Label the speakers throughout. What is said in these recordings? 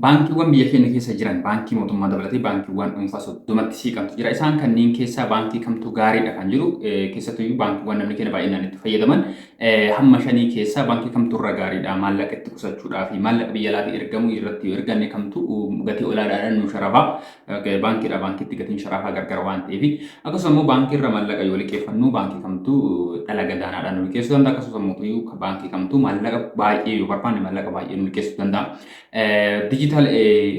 Speaker 1: Baankiiwwan biyya keenya keessa jiran baankii mootummaa dabalatee baankiiwwan dhuunfaa 30tti siiqantu jira. Isaan kanneen keessaa baankii kamtu gaariidha kan jedhu keessattuyyuu baankiiwwan namni keenya baay'inaan itti fayyadaman hamma shanii keessaa baankii kamtu irra gaariidha maallaqa itti qusachuudhaa fi maallaqa biyya alaatii ergamu irratti yoo erganne kamtu gatii olaadaadhaan nu sharafaa Ga'ee baankiidhaa baankiitti gatiin sharafaa gargara waan ta'eef akkasuma immoo baankii irra maallaqa yoo liqeeffannu baankii kamtu dhala gadaanaadhaan nu liqeessuu danda'a akkasumas mootummaa ka- baankii kamtu maallaqa baay'ee yoo barbaanne maallaqa baay'ee nu liqeessuu danda'a. Diijitaal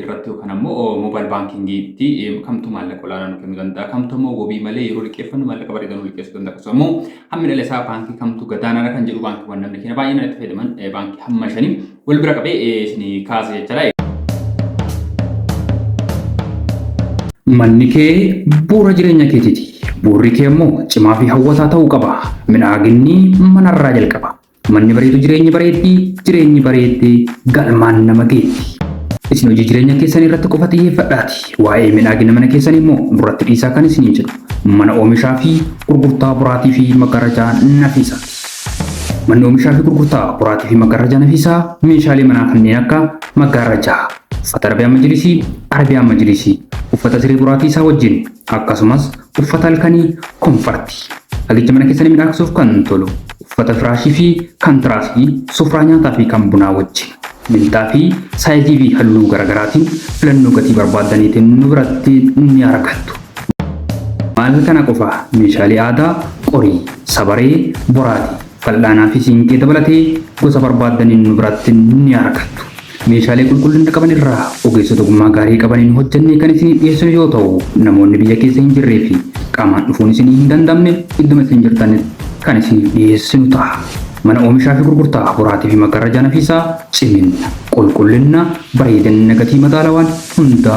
Speaker 1: irratti yookaan ammoo moobaayil baankiingiitti kamtu maallaqa olaanaa nu kennuu danda'a kamtu ammoo wabii malee yeroo liqeeffannu maallaqa bareedaa nu liqeessuu danda'a akkasumas immoo hammi dhala isaa baankii kamtu gadaanaadha kan jedhu baankiiwwan namni keenya baay'inaan itti fayyadaman eh, baankii hamma shanii wal bira qabee eh, isin kaasa jechaadha.
Speaker 2: Manni kee bu'uura jireenya keetiiti. Bu'uurri kee immoo cimaa fi hawwataa ta'uu qaba. Midhaaginni manarraa jalqaba. Manni bareedu jireenyi bareeddi, jireenyi bareeddi galmaan nama geetti. Isin hojii jireenya keessan irratti qofa xiyyeeffadhaati. Waa'ee midhaagina mana keessan immoo nurratti dhiisaa kan isiniin jedhu. Mana oomishaa fi gurgurtaa boraatii fi maggarajaa nafiisaati. Manni oomishaa fi gurgurtaa boraatii fi maggaarrajaa nafiisaa meeshaalee manaa kanneen akka maggaarrajaa, uffata Arabiyaan Majiliisii, Arabian Majliisi, uffata siree boraatii isaa wajjin, akkasumas uffata halkanii, konfarti, hagicha mana keessanii midhaagsuuf kan tolu, uffata firaashii fi kan tiraasii, sufraa nyaataa fi kan bunaa wajjin. Minxaafii saayizii fi halluu garagaraatiin filannoo gatii barbaaddaniitiin nu biratti ni argattu. Maal kana qofa meeshaalee aadaa qorii, sabaree, boraatii, fal'aanaa fi siinqee dabalatee gosa barbaaddaniin nu biratti ni argattu. Meeshaalee qulqullina qaban irraa ogeessota ogummaa gaarii qabaniin hojjennee kan isinii dhiyeessinu yoo ta'u, namoonni biyya keessa hin jirree fi qaamaan dhufuun isinii hin danda'amne idduma isin jirtanitti kan isiniif dhiyeessinu ta'a. Mana Oomishaa fi Gurgurtaa Boraatii fi Maggarrajaa Nafiisaa, Ciminna, Qulqullinna, Bareedinna Gatii Madaalawaan Hunda.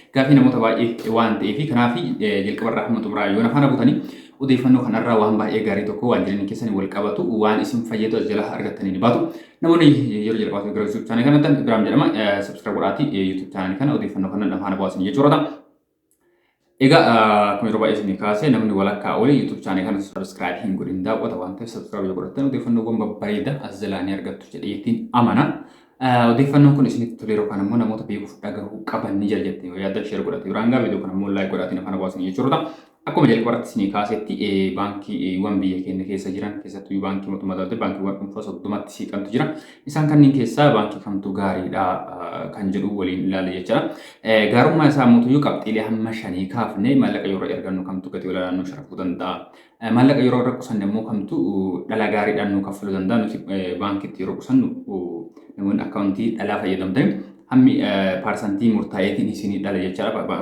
Speaker 1: Gaafii namoota baay'ee waan ta'eefi kanaaf jalqabarraa hamma xumuraa yoo na faana buutanii odeeffannoo kanarraa waan baay'ee gaarii tokko waan jireenya keessanii wal qabatu waan isin fayyadu as jalaa argattanii ni baatu. Namoonni yeroo jalqabaatiif gara YouTube chaanalii kanatti Ibraahim jedhama. Subscribe godhaatii YouTube chaanalii kana odeeffannoo kana na faana bu'aasin jechuudha ta'a. Egaa akkuma yeroo baay'ee isinii kaasee namni walakkaa olii YouTube chaanalii kana subscribe hin godhin daawwata waan ta'eef subscribe yoo godhattan odeeffannoowwan babbareedaa as jalaa ni argattu jedheetiin amana. Odeeffannoon kun isinitti tolee yookaan ammoo namoota beekuuf dhagahuu qaban ni jira jettee yoo yaaddan sheer godhate biraan gaa viidiyoo kana immoo laayik godhaatiin afaan hawaasni jechuudha. Akkuma jalqaba irratti isinii kaasetti baankiiwwan biyya keenya keessa jiran keessattuu baankii mootummaa dabalatee baankiiwwan dhuunfaa soddomatti siiqantu jira. Isaan kanneen keessaa baankii kamtu gaariidha kan jedhu waliin ilaalla jechuudha. Gaarummaa isaa mootuyyuu qabxiilee hamma shanii kaafne maallaqa yeroo ergannu kamtu gatii olaanaa nu sharafuu danda'a. Maallaqa yeroo irra qusanne immoo kamtu dhalaa gaariidhaan nuu kaffaluu danda'a. Nuti baankiitti yeroo qusannu namoonni akkaawuntii dhalaa fayyadamtan hammi paarsantii murtaa'eetiin isinii dhala jechaadha.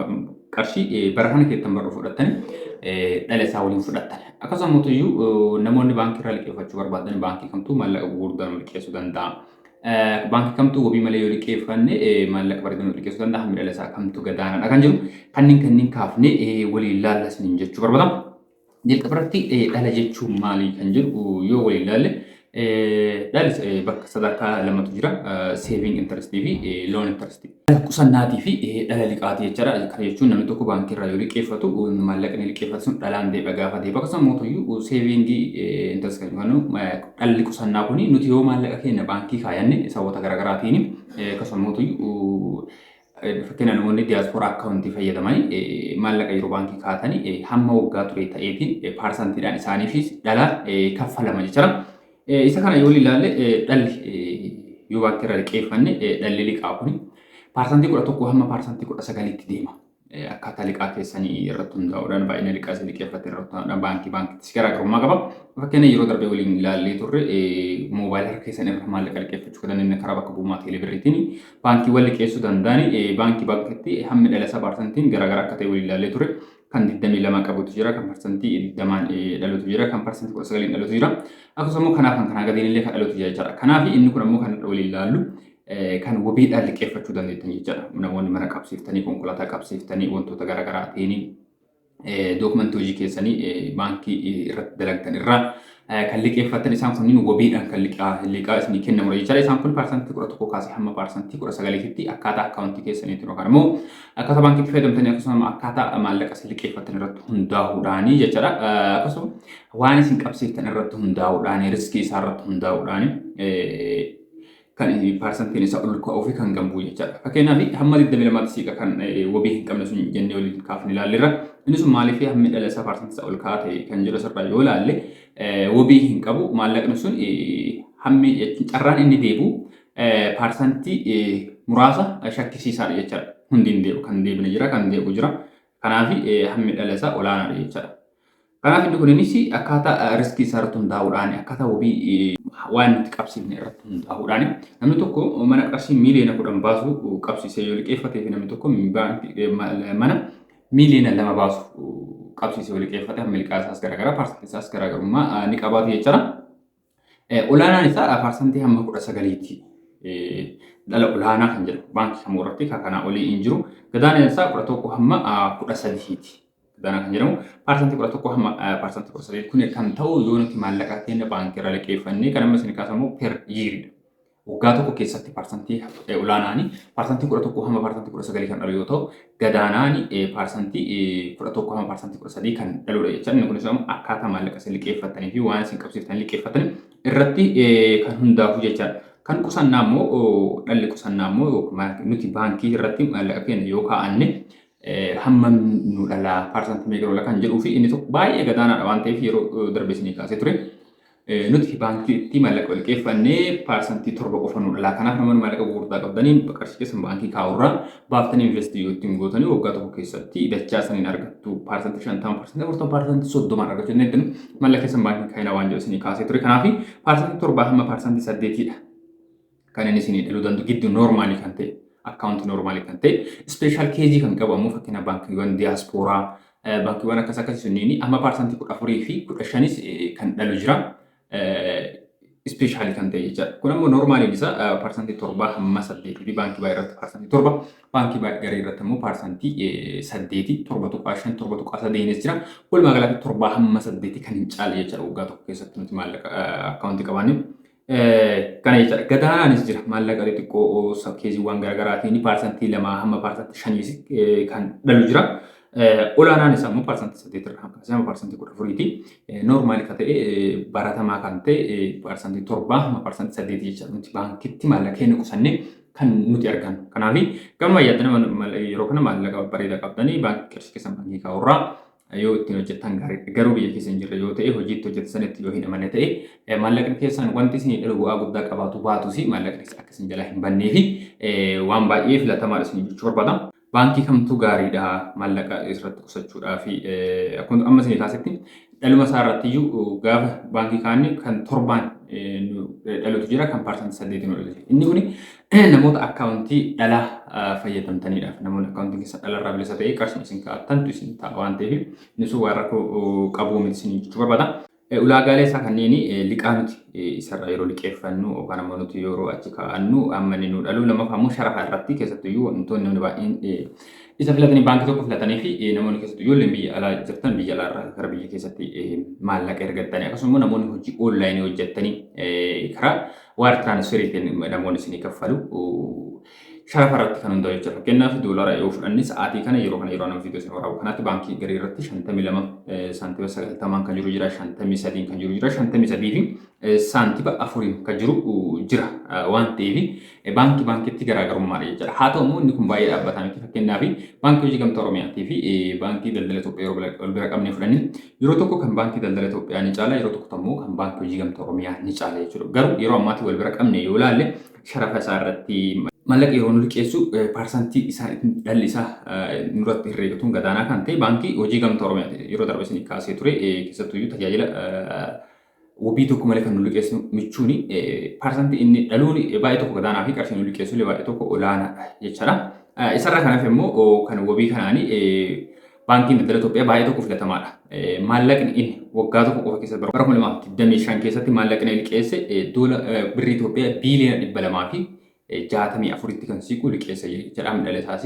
Speaker 1: Qarshii bara kana keessan barru fudhattanii dhala isaa waliin fudhattan. Akkasumas mootiyyuu namoonni baankii irraa liqeeffachuu barbaadan baankii kamtu maallaqa gurguddaan liqeessuu danda'a. Baankii kamtu wabii malee yoo liqeeffanne maallaqa bareedan yoo liqeessuu danda'a hammi dhala isaa kamtu gadaanaadha kan jiru kanneen kanneen kaafne waliin laalla isiniin jechuu barbaada. Jalqaba irratti dhala jechuun maali kan jedhu yoo waliin laalle dhalis bakka sadarkaa lamatu jira saving interest fi loan interest. Dhala qusannaatii fi dhala liqaati jechaadha. Kana jechuun namni tokko baankii irraa yoo liqeeffatu maallaqni liqeeffate sun dhalaan deebi'a gaafa deebi'a akkasuma mootuyyuu seeviingii intarsi kan jennu dhalli qusannaa kun nuti yoo maallaqa keenya baankii kaayanne sababoota garaagaraatiin akkasuma mootuyyuu fakkeenya namoonni diyaaspooraa akkaawuntii fayyadamanii maallaqa yeroo baankii kaatanii hamma waggaa ture ta'eetiin paarsantiidhaan isaaniifis dhala kaffalama jechaadha. Isa kana yoo ilaalle dhalli yoo baankii irraa liqeeffanne dhalli liqaa kun paarsantii kudha tokko hamma paarsantii kudha sagalitti deema. Akkaataa liqaa keessanii irratti hundaa'uudhaan baay'ina liqaa isin liqeeffatte irratti hundaa'uudhaan baankii baankiittis garaagarummaa qaba. Fakkeenya yeroo darbe waliin ilaallee turre moobaayila harka keessan irra maallaqa liqeeffachuu kan dandeenye karaa bakka bu'ummaa teelebirriitiin baankiiwwan liqeessuu danda'an baankii baankiitti hammi dhala isaa paarsantiin garaagaraa akka ta'e waliin ilaallee turre. kan 22 qabutu jira, kan parsantii 20n dhalutu jira, kan parsantii 19n dhalutu jira. Akkasumas immoo kanaaf kan kanaa gadiin illee kan dhalutu jira jechaadha. Kanaaf inni kun ammoo kan waliin ilaallu kan wabiidhaan liqeeffachuu dandeettan jechaadha. Namoonni mana qabsiiftanii, konkolaataa qabsiiftanii, wantoota garaagaraatiin dookumentii hojii keessanii baankii irratti dalagdan irraa kan liqeeffattan isaan kunniin wabiidhaan kan liqaa isinii kennamudha jechaadha. Isaan kun paarsantii kudha tokko kaasee hamma paarsantii kudha sagaliititti akkaataa akkaawuntii keessaniitiin yookaan immoo akkaataa baankiitti fayyadamtanii akkasuma akkaataa maallaqa isin liqeeffattan irratti hundaa'uudhaani jechaadha. Akkasuma waan isin qabsiiftan irratti hundaa'uudhaani riskii isaa irratti hundaa'uudhaani kan parsantiin isaa ol ka'uu fi kan gambuu jechaadha. Fakkeenyaaf hamma 22tti siiqa kan wabii hin qabne sun jennee waliin kaafne ilaalleerra. Inni sun maaliif hammi dhala isaa parsantii isaa ol ka'aa ta'e kan jedhu asirraa yoo ilaalle wabii hin qabu maallaqni sun hammi carraan inni deebi'u parsantii muraasa shakkisiisaadha jechaadha. Hundi hin deebi'u kan deebine jira kan deebi'u jira. Kanaaf hammi dhala isaa olaanaadha jechaadha. Kanaaf inni kuninis akkaataa riskii isaa irratti hundaa'uudhaan akkaataa wabii waan nuti qabsiifne irratti hundaa'uudhaan namni tokko mana qarshii miiliyoona kudhan baasu qabsiisee yoo liqeeffatee fi namni tokko mana miiliyoona lama baasu qabsiisee yoo liqeeffate milkaa'aa isaas garaagaraa paarsantii isaas garaagarummaa ni qabaatu jechuudha. Olaanaan isaa parsantii hamma kudha sagaliiti. Dhala olaanaa kan jedhu baankii kamuu irratti kan kanaa olii hin jiru. Gadaanaan isaa kudha tokko hamma kudha sadiiti. Gadaanaa kan jedhamu parsantii kudha tokko hamma parsantii kudha sadii kun kan ta'u yoo nuti maallaqa keenya baankii irra liqeeffannee kan amma isin kaasamu per yiiridha. Waggaa tokko keessatti parsantii olaanaani parsantii 11 hamma parsantii 19 kan dhalu yoo ta'u gadaanaani parsantii 11 hamma parsantii 13 kan dhaludha jecha inni kunis immoo akkaataa maallaqa isin liqeeffattanii fi waan isin qabsiiftan liqeeffattan irratti kan hundaafu jechaadha. Kan qusannaa immoo dhalli qusannaa immoo nuti baankii irratti maallaqa keenya yoo kaa'anne hammam nu dhalaa parsantii meeqa lola kan jedhuu fi inni tokko baay'ee gadaanaadha waan ta'eef yeroo darbe isinii kaasee ture. Nuti baankii itti maallaqa liqeeffanne paarsantii torba qofa nu dhalaa. Kanaaf namoonni maallaqa gurgurtaa qabdaniin qarshii keessan baankii kaa'urraa baaftanii investii yoo ittiin gootanii waggaa tokko keessatti dachaa saniin argattu paarsantii shantama paarsantii afurtama paarsantii soddomaan argachuu dandeettan maallaqa keessan baankii kaa'ina waan jedhu isinii kaasee ture. Kanaaf paarsantii torbaa hamma paarsantii saddeetiidha. kanan isinii dhaluu danda'u gidduu noormaalii kan ta'e akkaawuntii noormaalii kan ta'e ispeeshaal keezii kan qabu ammoo fakkeenya baankiiwwan diyaaspooraa baankiiwwan akkas akkasii sunniin amma paarsantii kudha afurii fi kudha shanis kan dhalu jira. Ispeeshaalii kan ta'e jechaadha. Kun ammoo noormaaliin isaa paarsantii torbaa hamma saddeetii fi baankii baay'ee irratti paarsantii torba baankii baay'ee garii irratti ammoo paarsantii saddeetii torba tuqaa shan torba tuqaa sadeenis jira. Walumaa galatti torbaa hamma saddeetii kan hin caalle jechaadha waggaa tokko keessatti nuti maallaqa akkaawuntii qabaanne. Kana jechaadha. Gadaanaanis jira. Maallaqa xixiqqoo keesiiwwan garaagaraatiin paarsantii lamaa hamma paarsantii shaniis kan dhalu jira. Olaanaan isaa immoo paarsantii saddeet irraa hamma isaa paarsantii kudha afuriiti. Noormaali kan ta'e baratamaa kan ta'e paarsantii torbaa hamma paarsantii saddeet jecha nuti baankitti maallaqa keenya qusannee kan nuti argannu. Kanaaf gama yaadana yeroo kana maallaqa bareedaa qabdanii baankii keessan baankii kaa'urraa yoo ittiin hojjettan gaariidha. Garuu biyya keessa hin jirre yoo ta'e hojiitti hojjeta sanitti yoo hin amanne ta'e maallaqni keessan wanti isinii dhalu bu'aa guddaa qabaatu baatus maallaqni keessa akka isin jalaa hin bannee fi waan baay'ee filatamaadha isin jechuu barbaada. Baankii kamtu gaariidha maallaqa irratti qusachuudhaa fi akkuma amma isin kaasetti dhaluma isaa irratti iyyuu gaafa baankii kaanne kan torbaan dhalutu jira kan paarsantii saddeetiin ol inni kun namoota akkaawuntii dhalaa fayyadamtaniidhaaf namoonni akkaawuntii keessa dhalarraa bilisa ta'ee qarshiin isin kaa'attantu isin ta'a waan ta'eef innis waan rakkoo qabuu miti isin jechuu barbaada. Ulaagaalee isaa kanneen liqaa nuti isarraa yeroo liqeeffannu yookaan ammoo nuti yeroo achi kaa'annu amma inni nu dhalu lammaffaa ammoo sharafa irratti keessattuyyuu wantoonni namni baay'een isa filatanii baankii tokko filatanii fi namoonni keessattuu ijoolleen biyya alaa jirtan biyya alaa irraa gara biyya keessatti maallaqa ergattanii akkasuma immoo namoonni hojii oonlaayinii hojjettanii karaa Wire transfer ittiin namoonni isinii kaffalu sharafa irratti kan hundaa'u jechuudha. Fakkeenyaaf doolara yoo fudhanne sa'aatii kana yeroo kana yeroo nama viidiyoo isin waraabu kanaatti baankii garii irratti 52 saantima 90 kan jiru jira 53 kan jiru jira 53 fi saantima 4 kan jiru jira waan ta'eef baankii baankiitti garaagarummaadha jechuudha. Haa ta'u immoo inni kun baay'ee dhaabbataa miti fakkeenyaaf baankii hojii gamtaa Oromiyaatii fi baankii daldala Itoophiyaa yeroo ol bira qabnee fudhanne Yeroo tokko kan Baankii Daldala Itoophiyaa ni caala, yeroo tokko ammoo kan Baankii Hojii Gamtaa Oromiyaa ni caala jechuudha. Garuu yeroo ammaatii wal bira qabne yoo ilaalle sharafa isaa irratti mallaqa yeroo nu liqeessu paarsantii isaan ittiin dhalli isaa nurratti herreegatuun gadaanaa kan ta'e Baankii Hojii Gamtaa Oromiyaa yeroo darbe isin kaasee ture keessattuu iyyuu tajaajila Wabii tokko malee kan nu liqeessu michuuni parsantii inni dhaluun baay'ee tokko gadaanaa fi qarshii nu liqeessu illee baay'ee tokko olaanaadha jechaadha. Isarraa kan hafe immoo kan wabii kanaanii baankiin daldala Itoophiyaa baay'ee tokko filatamaadha. Maallaqni inni waggaa tokko qofa keessatti bara 2025 keessatti maallaqni liqeesse doola birrii Itoophiyaa biiliyoona 200 fi jaatamii afuritti kan siiqu liqeessa jechaa midhala isaas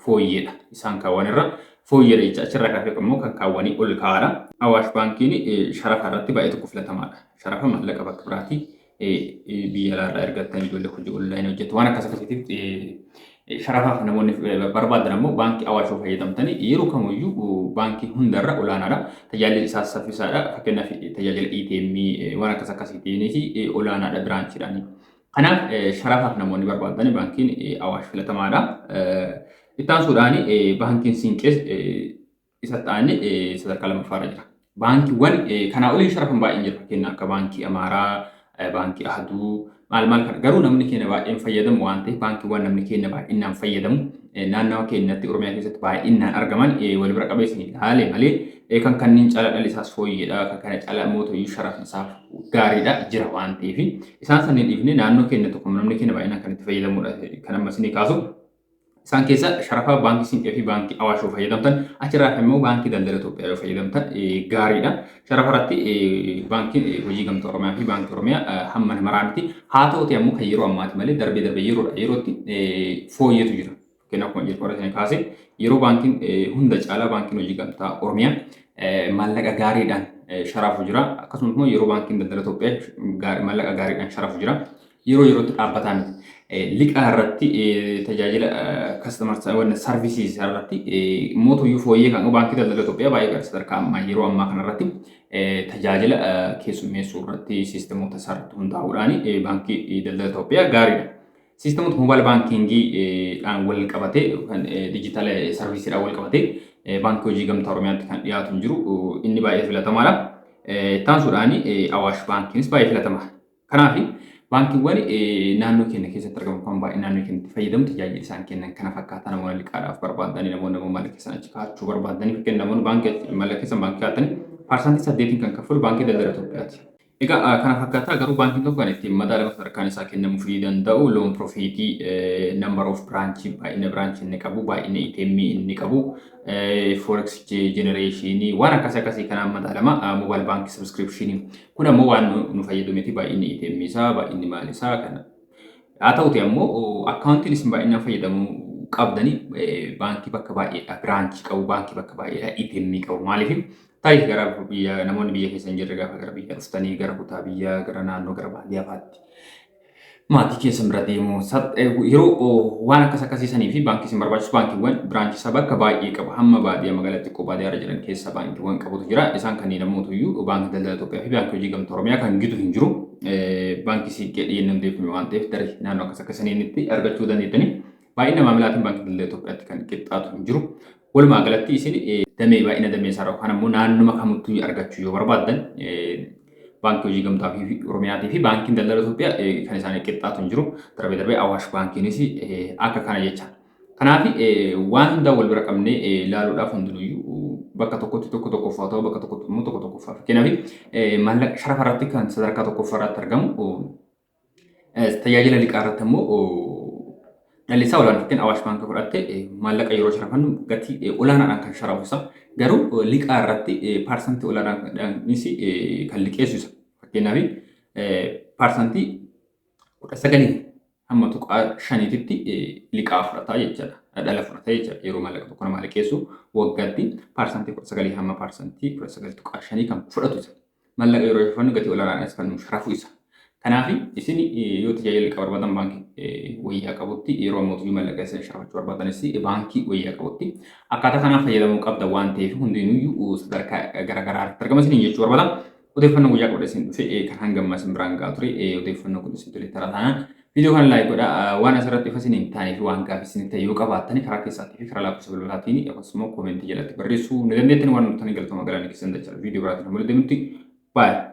Speaker 1: fooyyeedha. Isaan kaawwan irra fooyyeedha jecha achirraa kaasee immoo kan kaawwanii ol kaa'aadha. Awaash baankiin sharafa irratti baay'ee tokko filatamaadha. Sharafa maallaqa bakka biraatii biyya alaarraa ergattan ijoollee hojii onlaayinii hojjetu waan akkas akkasiitiif sharafaaf namoonni barbaadan ammoo baankii awaash yoo fayyadamtanii yeroo kamiyyuu baankii hundarra olaanaadha. Tajaajilli isaas saffisaadha. Fakkeenyaaf tajaajila ATM waan akkas akkasiitiinis olaanaadha biraanchiidhaanii. Kanaaf sharafaaf namoonni barbaaddan baankiin Awaash filatamaadha. Itti aansuudhaan baankiin Siinqees isa ta'anii sadarkaa lammaffaarra jira. Baankiiwwan kanaa olii sharafan baay'een jira. Fakkeenyaaf akka baankii Amaaraa, baankii Ahaduu maal maal kana garuu namni keenya baay'een fayyadamu waan ta'eef baankiiwwan namni keenya baay'inaan fayyadamu naannawa keenyatti Oromiyaa keessatti baay'inaan argaman wal bira qabeessin ilaale malee kan kanneen caalaa dhalisaas fooyyeedha kan kana caalaa mootoyyuu sharafni isaa gaariidha jira waan ta'eef isaan sanneen dhiifne naannoo keenya tokko namni keenya baay'inaan kan itti fayyadamudha kan ammas ni kaasu. Isaan keessa sharafa baankii Siinqee fi baankii Awaash yoo fayyadamtan achirraa kan immoo baankii daldala Itoophiyaa yoo fayyadamtan gaariidha. Sharafa irratti baankiin hojii gamtaa Oromiyaa fi baankii Oromiyaa hamma namaraan miti. Haa ta'uti ammoo kan yeroo ammaati malee darbee darbee yeroodha yerootti fooyyeetu jira. Fakkeen akkuma jedhu warra sana kaase yeroo baankiin hunda caalaa baankiin hojii gamtaa Oromiyaa maallaqa gaariidhaan sharaafu jira. Akkasumas immoo yeroo baankiin daldala Itoophiyaa maallaqa gaariidhaan sharaafu jira. Yeroo yerootti dhaabbataa miti. Liqaa irratti tajaajila kastamar sarvisiis irratti mootuyyuu fooyyee kan baankii daldala Itoophiyaa baay'ee gara sadarkaa ammaa yeroo ammaa kana irratti tajaajila keessummeessuu irratti siistemoota isaa irratti hundaa'uudhaan baankii daldala Itoophiyaa gaariidha. System mobile banking dhaan wal qabate kan digital service dhaan wal qabate baankii hojii gamtaa Oromiyaatti kan dhiyaatu hin jiru. Inni baay'ee filatamaadha. Ittaansuudhaan Awaash baankiinis baay'ee filatama. Kanaaf baankiiwwan naannoo keenya keessatti argaman kan baay'ee naannoo keenyatti fayyadamu tajaajila isaan kennan kana fakkaataa namoonni liqaadhaaf barbaadanii namoonni namoonni mallaqa keessan achi kaa'achuu barbaadanii fakkeen namoonni baankii mallaqa keessan baankii kaa'atanii parsantii saddeetiin kan kaffalu baankii daldala Itoophiyaati. Egaa kana fakkaataa garuu baankiin tokko kan ittiin madaalama sadarkaan isaa kennamuufii danda'u loon profiitii number of branch baay'ina branch inni qabu baay'ina itemii e inni qabu forex genereeshinii waan akkas akkasii kanaan madaalama mobile bank subscription kun ammoo waan nu fayyadu miti baay'inni itemii e isaa baay'inni maal isaa kana haa ta'uti ammoo akkaawuntiin isin baay'inaan fayyadamu qabdanii baankii bakka baay'eedha biraanchii qabu baankii bakka baay'eedha itemii e qabu maaliif Tarii gara biyya namoonni biyya keessa hin jirre gaafa gara biyya dhuftanii gara kutaa biyyaa gara naannoo gara baadiyyaa fa'aatti maatii keessan bira deemuu sab- eh, yeroo oh, waan akkas akkasii sanii fi baankii isin barbaachisu baankiiwwan biraanchii isaa bakka baay'ee qabu hamma baadiyyaa magaalaa xiqqoo baadiyyaa irra jiran keessa baankiiwwan qabutu jira isaan kanneen ammoo iyyuu baankii daldala Itoophiyaa fi baankii hojii gamtaa Oromiyaa kan gitu hin jiru Eh, baankii siiqqee dhiyeenya hundeeffame waan ta'eef tarii naannoo akkas akkasaniinitti argachuu dandeettanii Baay'ina maamilaatiin Baankii Daldala Itoophiyaatti kan qixxaatu hin jiru. Walumaa galatti isin damee baay'ina damee isaa yookaan ammoo naannuma kamittuu argachuu yoo barbaaddan baankii hojii gamtaa fi Oromiyaatii fi baankiin daldala Itoophiyaa kan isaanii qixxaatu hin jiru. Darbee darbee Awaash baankiinis akka kana jecha. Kanaaf waan hundaa wal bira qabnee ilaaluudhaaf hundinuyyuu bakka tokkotti tokko tokkoffaa ta'u bakka tokkotti immoo tokko tokkoffaa. Fakkeenyaaf maallaqa sharafa irratti kan sadarkaa tokkoffaa irratti argamu Tajaajila liqaa irratti ammoo dhallisaa olaanfatteen Awaash Baankii fudhatte maallaqa yeroo sharafannu gatii olaanaadhaan kan sharafusa. Garuu liqaa irratti paarsantii olaanaadhaanis kan liqeessisa. Fakkeenyaaf paarsantii kudha sagalii hamma tuqaa shaniititti liqaa fudhata jechuudha. Dhala fudhata jechuudha. Yeroo maallaqa tokko namaa liqeessu waggaatti paarsantii kudha sagalii hamma paarsantii kudha sagal tuqaa shanii kan fudhatu mallaqa yeroo kafannu gatii olaanaadhaan isa kannu sharafu isa. Kanaaf isin yoo tajaajila liqaa barbaadan baankii wayyaa qabutti yeroo ammoo mallaqa isin sharafachuu barbaadanis baankii wayyaa qabutti akkaataa kanaan fayyadamuu qabda waan ta'eef hundinuyyuu sadarkaa garaagaraa irratti argama isin jechuu barbaada. Odeeffannoo guyyaa qabda isin dhufe kan hanga ammaa isin biraan gahaa ture odeeffannoo kun isin tole taraa taanaan Video kana like godha waan asirratti ifa isiniif taanee fi waan gaafii isiniif ta'e yoo qabaattani karaa keessaatii fi karaa lakkoofsa bilbilaatiin akkasumas immoo koomentii jalatti barreessuu ni dandeettani waan nuttanii galtooma galaana keessan dachaa video biraatiin hamma deemutti baay'ee.